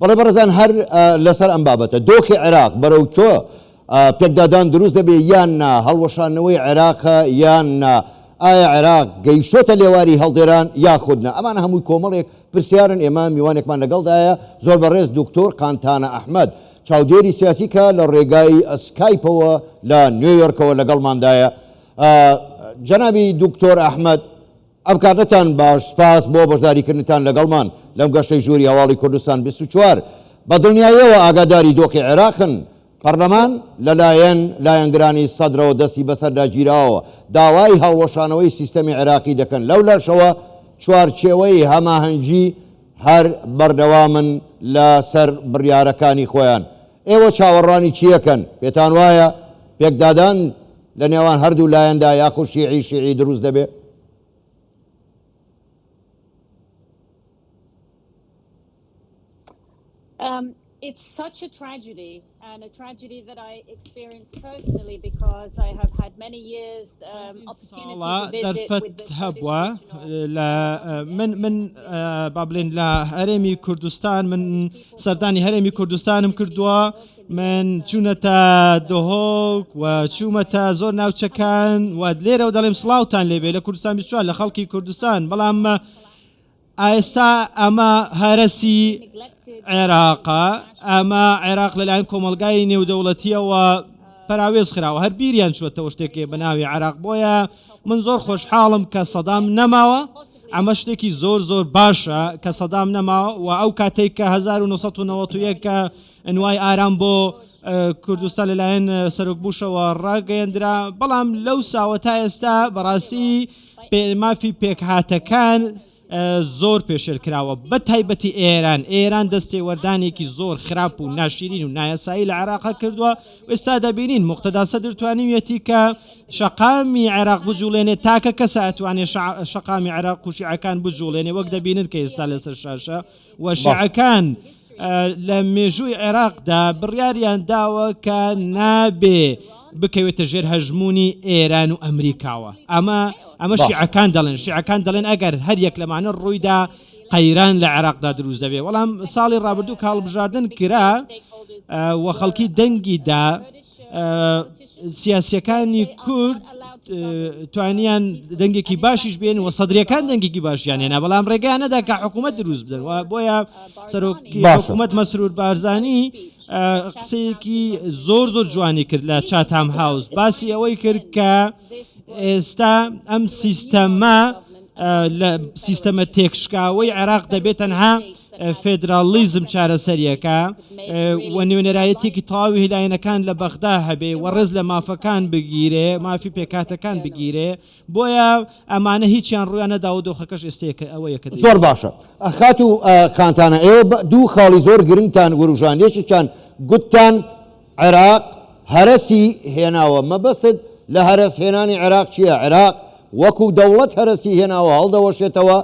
بەڵێ بەڕێزان هەر لەسەر ئەم بابەتە دۆخی عێراق بەرەو کۆ پێکدادان دروست دەبێ یان نا هەڵوەشانەوەی عێراقە یان نا ئایا عێراق گەیشتۆتە لێواری هەڵدێران یاخودنا ئەمان هەمووی کۆمەڵێک پرسیارن ئێمە میوانێکمان لەگەڵدایە زۆر بەڕێز دکتۆر قانتانە ئەحمد چاودێری سیاسی کە لە ڕێگای ئەسکایپەوە لە نوێیۆرکەوە لەگەڵماندایە جەنابی دکتۆر ئەحمد ئەم کاتەتان باش، سپاس بۆ بەشداریکردنتان لەگەڵمان لەم گەشتەی ژووری هەواڵی کوردستان بیست و چوار. بە دڵنیاییەوە ئاگاداری دۆخی عێراقن. پەرلەمان لەلایەن لایەنگرانی سەدرەوە دەستی بەسەردا گیراوە، داوای هەڵوەشانەوەی سیستەمی عێراقی دەکەن، لەولاشەوە چوارچێوەی هەماهەنگی هەر بەردەوامن لەسەر بڕیارەکانی خۆیان. ئێوە چاوەڕوانی چییەکەن؟ پێتانوایە پێکدادان لە نێوان هەردوو لایەندا یاخود شیعی شیعی دروست دەبێ. ساڵە دەرفەت هەبووە لە من من با بڵێن لە هەرێمی کوردستان من سەردانی هەرێمی کوردستانم کردووە. من چوونەتە دهۆک و چوومەتە زۆر ناوچەکان و لێرە و دەڵێم سلااوان لێبێ لە کوردستان بیچوە لە خەڵکی کوردستان بەڵام ئایستا ئەمە هەرسی عێراقا ئەمە عێراق لەلایەن کۆمەلگای نێودەوڵەتیەوە پراوێز خراوە هەر بیریان چوەتەوە شتێکێ بەناوی عراق بۆیە من زۆر خۆشحاڵم کە سەدام نەماوە ئەمە شتێکی زۆر زۆر باشە کە سەدام نەماوە و ئەو کاتێک کە 1990 کە ئەنوای ئارام بۆ کوردستان لەلایەن سەرۆک بوشەوە ڕاگەیەندرا بەڵام لەو ساوە تا ئێستا بەڕاستی مافی پێکهاتەکان زۆر پێشێل کراوە بە تایبەتی ئێران ئێران دەستێ وەردانێکی زۆر خراپ و ناشیرین و نایاسایی لە عراق کردووە ئێستا دەبینین مختدا سەدر توانیویەتی کە شقامی عێراق بجوڵێنێ تاکە کەسە ئەتوانێ شقامی عێراق قوشیعەکان بجوڵێنێ وەک دەبینن کە ئێستا لەسەر شاشە و شیعەکان لە مێژووی عێراقدا بڕیاریان داوە کە نابێ بکەوێتە ژێر هەژموونی ئێران و ئەمریکاوە ئەمە ئەمە شیعەکان دەڵێن شیعەکان دەڵێن ئەگەر هەر یەک لەمانە ڕوویدا قەیران لە عێراقدا دروست دەبێ وەڵام ساڵی ڕابردوو کاڵبژاردن کرا و خەڵکی دەنگیدا سیاسیەکانی کورد توانیان دەنگێکی باشیش بێن و سەدرەکان دەنگێکی باشیان هێنا بەڵام ڕێگەیانەدا کە حکوومەت دروست بدەن بۆیە سەرۆکی حکوومەت مەسرور بارزانانی قسەیەکی زۆر زۆر جوانی کرد لە چاتام هاوس باسی ئەوەی کرد کە ئێستا ئەم سیستەمە لە سیستەمە تێکشکاوەی عێراق دەبێت تەنها فێدراڵیزم چارەسەریەکە و نوێنەرایەتیەکی تەواوی لایەنەکان لە بەغدا هەبێ و ڕێز لە مافەکان بگیرێ مافی پێکاتەکان بگیرێ بۆیە ئەمانە هیچیان ڕویان نەدا و دۆخەکەش ئێستەیەکە ئەوە یەکە زۆر باشە خات و کانتانە ئێوە دوو خاڵی زۆر گرنگتان وروژان یەکێکیان گوتتان عێراق هەرەسی هێناوە مەبەستت لە هەرەس هێنانی عێراق چییە عێراق وەکو دەوڵەت هەرەسی هێناوە هەڵدەوەشێتەوە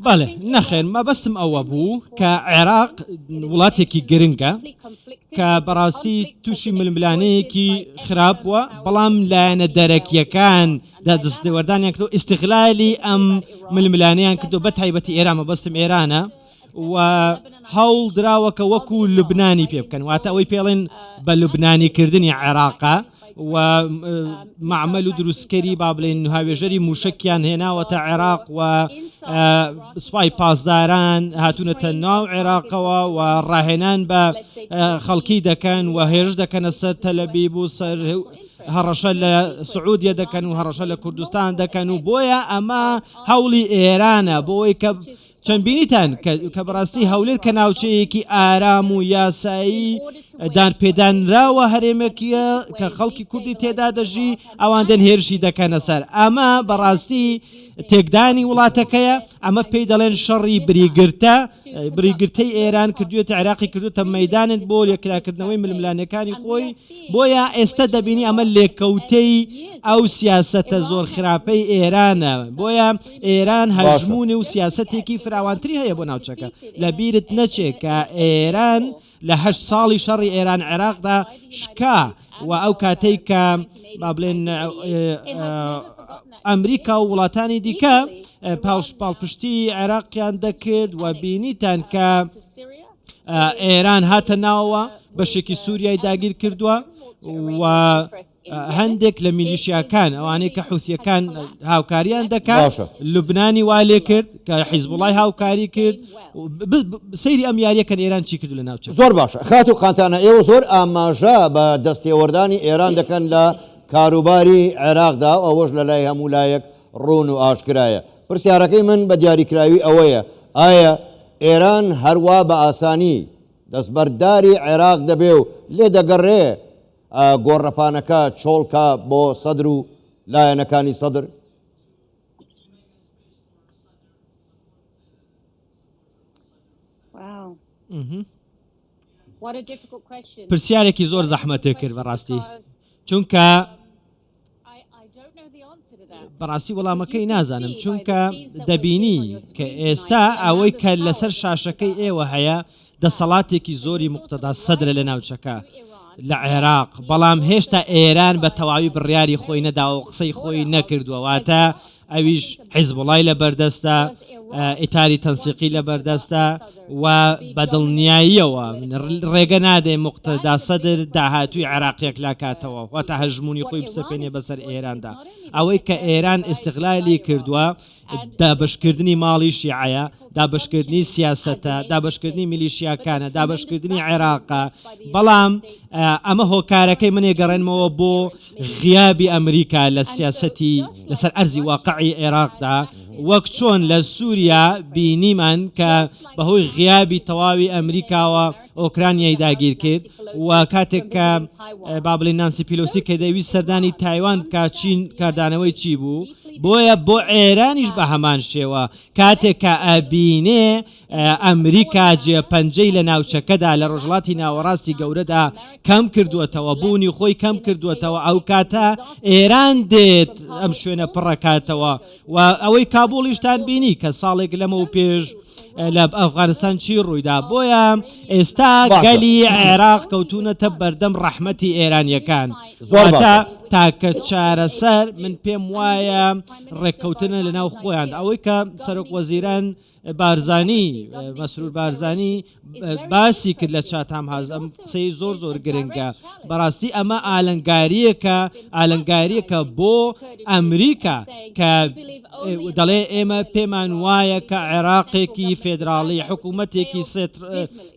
بەڵێ نەخێر مەبەستم ئەوە بوو کە عێراق وڵاتێکی گرنگە کە بەڕاستی تووشی ململانەیەکی خراپ بووە بەڵام لایەنە دەرەکیەکان دا دەستێوەردانیان کرد ئیسیغلالی ئەم ململانیان کردو بە تایبەتی ئێران مەبەستم ئێرانە و هەوڵ دراوەکە وەکو لوبنانی پێ بکەن واتە ئەوەی پێڵێن بە لوبنانی کردنی عێراقا و معمل و دروستکەری با بڵێن هاوێژەری موشکیان هێناوە تا عێراق و سوپای پاسداران هاتوونەتە ناو عێراقەوە و ڕاهێنان بە خەڵکی دەکەن و هێرش دەکەنە سەر تەلەبی بوو سەر هەڕەشە لە سعودیە دەکەن و هەڕەشە لە کوردستان دەکەن و بۆیە ئەمە هەوڵی ئێرانە بۆی کە چەند بینیتان کە بەڕاستی هەولێر کە ناوچەیەکی ئارام و یاسایی دان پێدانراوە هەرێمێکیە کە خەڵکی کوردی تێدا دەژی ئەوان دەن هێرشی دەکەنە سەر ئەمە بەڕاستی تێکدانی وڵاتەکەیە ئەمە پێی دەڵێن شەڕی بریگرتە بریگرتەی ئێران کردوێت عێراقی کردوتە مەدانت بۆ لێکراکردنەوەی ململانەکانی خۆی بۆیە ئێستا دەبینی ئەمە لێکەوتەی ئەو سیاسەتە زۆر خراپەی ئێرانە بۆیە ئێران هەژموونە و سیاسەتێکی فراوانتری هەیە بۆ ناوچەکە لە بیرت نەچێت کە ئێران لە هەشت ساڵی شەڕی ئێران عێراقدا شکا و ئەو کاتەی کە با بڵێن ئەمریکا و وڵاتانی دیکە پاوش پاڵپشتی عێراقیان دەکرد و بینیتان کە ئێران هاتە ناوە بەشێکی سووریای داگیر کردووە و هەندێک لە میلیشیاکان ئەوانەی کە حوسیەکان هاوکاریان دەکات لوبنانی وا لێ کرد کە حیزب وڵای هاوکاری کرد سەیری ئەم یاریەکەن ئێران چی کرد لە ناوچە زۆر باشە خات و قانتانە ئێوە زۆر ئاماژە بە دەستێوەردانی ئێران دەکەن لە کاروباری عێراقدا و ئەوەش لە لای هەموو لایەک ڕوون و ئاشکرایە پرسیارەکەی من بە دیاریکراوی ئەوەیە ئایا ئێران هەروا بە ئاسانی دەستبەرداری عێراق دەبێ و لێ دەگەڕێ گۆڕەپانەکە چۆڵکە بۆ سەدر و لایەنەکانی سەدر؟ پرسیارێکی زۆر زەحمەتێ کرد بەڕاستی چونکە بەڕاستی وەڵامەکەی نازانم چونکە دەبینی کە ئێستا ئەوەی کە لەسەر شاشەکەی ئێوە هەیە دەسەڵاتێکی زۆری مختدا سەدرە لە ناوچەکە لە عێراق بەڵام هێشتا ئێران بە تەواوی بڕیاری خۆی نەداوە قسەی خۆی نەکردووەواتە ئەویش حیزبوڵای لەبەردەستە، ئیتاری تەنسیقی لەبەردەستە و بە دڵنیاییەوە ڕێگە نادەین موقتەدا سەدر داهاتووی عێراق یەکلاکاتەوە، واتە هەژموونی خۆی بسەپێنێ بەسەر ئێراندا. ئەوەی کە ئێران ئیستغلالی کردووە، دابەشکردنی ماڵی شیعەیە، دابەشکردنی سیاسەتە، دابەشکردنی میلیشیاکانە، دابەشکردنی عێراقە، بەڵام ئەمە هۆکارەکەی من ئەگەڕێنمەوە بۆ، غیابی ئەمریکا لە سیاسەتی لەسەر ئەرزی واقعی عێراقدا وەک چۆن لە سوریا بینیمان کە بەهۆی غیابی تەواوی ئەمریکاوە ئۆکرانیای داگیر کرد و کاتێک کە بابلی نانسی پیلوسی کە دەویست سەردانی تایوان بکە چین کاردانەوەی چی بوو بۆیە بۆ عێرانیش بە هەمان شێوە کاتێک کە ئەبینێ ئەمریکا جێ پەنجەی لە ناوچەکەدا لە ڕۆژڵاتی ناوەڕاستی گەورەدا کەم کردوەتەوە بوونی خۆی کەم کردوەتەوە ئەو کاتە ئێران دێت ئەم شوێنە پڕەکاتەوە و ئەوەی کابوڵیشتان بینی کە ساڵێک لەمە و پێش لە ئەفغانستان چی ڕوویدا بۆیە ئێستا گەلی عێراق کەوتونەتە بەردەم ڕەحمەتی ئێرانیەکان زۆرتا تاکە چارەسەر من پێم وایە ڕێککەوتنە لە ناو خۆیان ئەوەی کە سەرۆک وەزیران بارزانی، مەسرور بارزانی، باسی کرد لە چاتهام هاوس، ئەم قسەی زۆر زۆر گرنگە، بەڕاستی ئەمە ئالنگارییەکە، ئالنگارییەکە بۆ ئەمریکا کە دەڵێ ئێمە پێمان وایە کە عێراقێکی فێدراڵی، حکوومەتێکی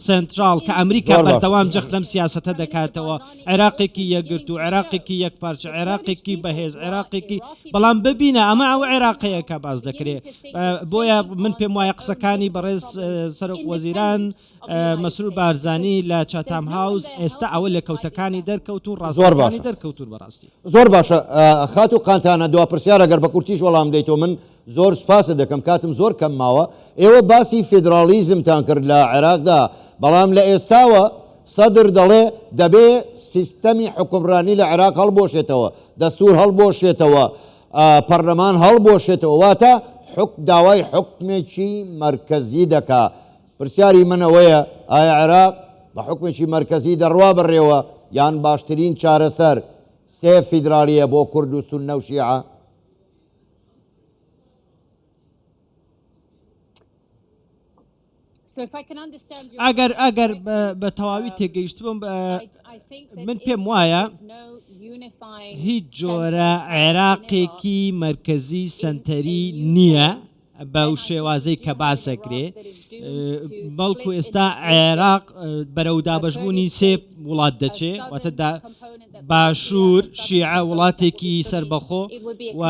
سێنتراڵ کە ئەمریکا بەردەوام جەخت لەم سیاسەتە دەکاتەوە، عێراقێکی یەکگرتوو، عێراقێکی یەکپارچە، عێراقێکی بەهێز، عێراقێکی بەڵام ببینە ئەمە ئەو عێراقەیە کە باس دەکرێ بۆیە من پێم وایە قسەکانی بەڕێز سەرۆک وەزیران مەسرور بارزانی لە چاتام هاوس ئێستا ئەوە لە کەوتەکانی دەرکەوت و ڕاستەکانی دەرکەوتون بەڕاستی زۆر باشە خات و قانتانە دو پرسیارە گەر بە کورتیش وەڵام دەیتۆ من زۆر سوپاست دەکەم کاتم زۆر کەم ماوە، ئێوە باسی فیدراڵیزمتان کرد لە عێراقدا، بەڵام لە ئێستاوە سەدر دەڵێ دەبێ سیستەمی حوکمڕانی لە عێراق هەڵبوەشێتەوە، دەستوور هەڵبوەشێتەوە، پەڕلەمان هەڵبوەشێتەوە، واتە حوک داوای حوکمێکی مەرکەزی دەکا، پرسیاری من ئەوەیە ئایا عێراق بە حوکمێکی مەرکەزی دەڕوا بەڕێوە یان باشترین چارەسەر سێ فیدراڵییە بۆ کورد و سوننە و شیعە؟ ئەگەر ئەگەر بە تەواوی تێگەیشتبم من پێم وایە هیچ جۆرە عێراقێکی مرکزی سنتەری نییە بەو شێوازەی کە باسەکرێ بەڵکو ئێستا عێراق بەرەو دابشبوونی سێ وڵات دەچێ واتەدا باشوور شیعە وڵاتێکی سربەخۆ و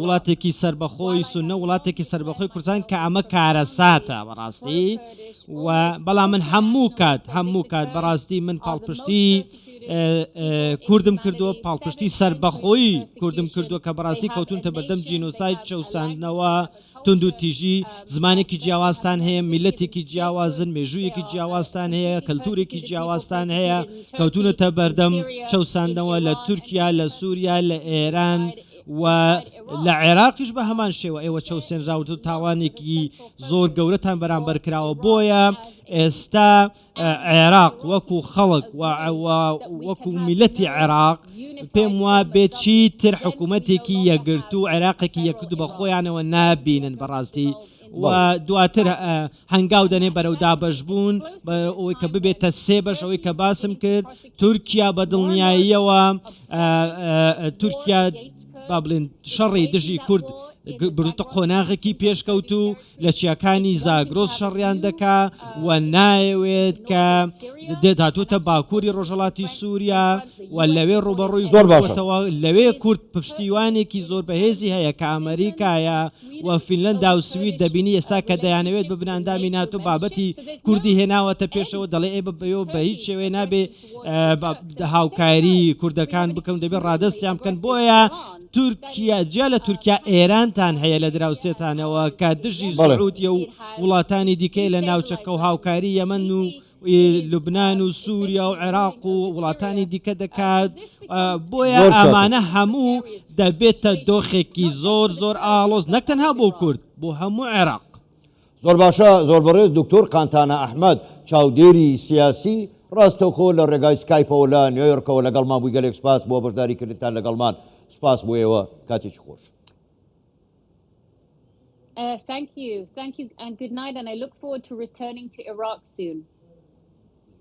وڵاتێکی سربەخۆی سونە وڵاتێکی سربەخۆی کوردستان کە ئەمە کارە ساتە بەڕاستی و بەڵام من هەموو کات هەموو کات بەڕاستی من پاڵپشتی کوردم کردووە پاڵپشتی سەربەخۆی کوردم کردووە کە بەڕاستی کەوتونتە بەردەم جینۆسایت چەوساندنەوە تونند و تیژی زمانێکی جیاوازتان هەیە میلەتێکی جیاوازن مێژوویەکی جیاوازتان هەیە کەلتورێکی جیاوازتان هەیە کەوتونەتە بەردەم چەوساندنەوە لە تورکیا لە سووریا لە ئێران و لە عێراقیش بە هەمان شێوە ئێوە چەوسێنراوت و تاوانێکی زۆر گەورەتان بەرامبەر کراوە بۆیە ئێستا عێراق وەکو خەڵک وەکو میلەتی عێراق پێم وا بێت چی تر حکوومەتێکی یەگرتو و عێراقێکی یەکرد بە خۆیانەوە نابینن بەڕاستی دواتر هەنگاو دەنێ بەرەو دابش بوون ئەوەی کە ببێتە سێ بەش ئەوەی کە باسم کرد تورکیا بە دڵنیاییەوە تورکیا با بڵێن شەڕی دژی کورد بروتە قۆناغێکی پێشکەوت و لە چیاکانی زاگرۆس شەڕیان دەکا و نایەوێت کە دێداتوتە باکووری ڕۆژەڵاتی سووریا و لەوێ ڕوبەڕووی زۆر باشەوە لەوێ کورد پشتیوانێکی زۆر بەهێزی هەیە کە ئەمریکایە و فینلەندا و سوید دەبینی ئێستا کە دەیانەوێت بە بناندامی ناتۆ بابەتی کوردی هێناوەتە پێشەوە دەڵێ ئێ بەبێ بە هیچ شێوەیە نابێ هاوکاری کوردەکان بکەون دەبێت ڕادستیان بکەن بۆیە تورکیا جیا لە تورکیا ئێرانتان هەیە لە دراوسێتانەوە کە دژی زۆرودیە و وڵاتانی دیکەی لە ناوچەکە و هاوکاری یەمەن و لوبناان و سووریا و عێراق و وڵاتانی دیکە دەکات بۆیە ئەمانە هەموو دەبێتە دۆخێکی زۆر زۆر ئاڵۆز نەکتەنها بۆ کورد بۆ هەموو عێراق زۆر باشە زۆر بەڕێز دکتۆر قانتانا ئەحمەد چاودێری سیاسی ڕاستەوخۆ لە ڕێگای سکایپەوە لە نیۆیۆرکەوە لەگەڵمان بووی گەلێک سپاس بۆ بەشداری کردنتان لەگەڵمان سپاس بۆ ئێوە کاتێکی خۆش. Uh, thank you, thank you, and good night, and I look forward to returning to Iraq soon.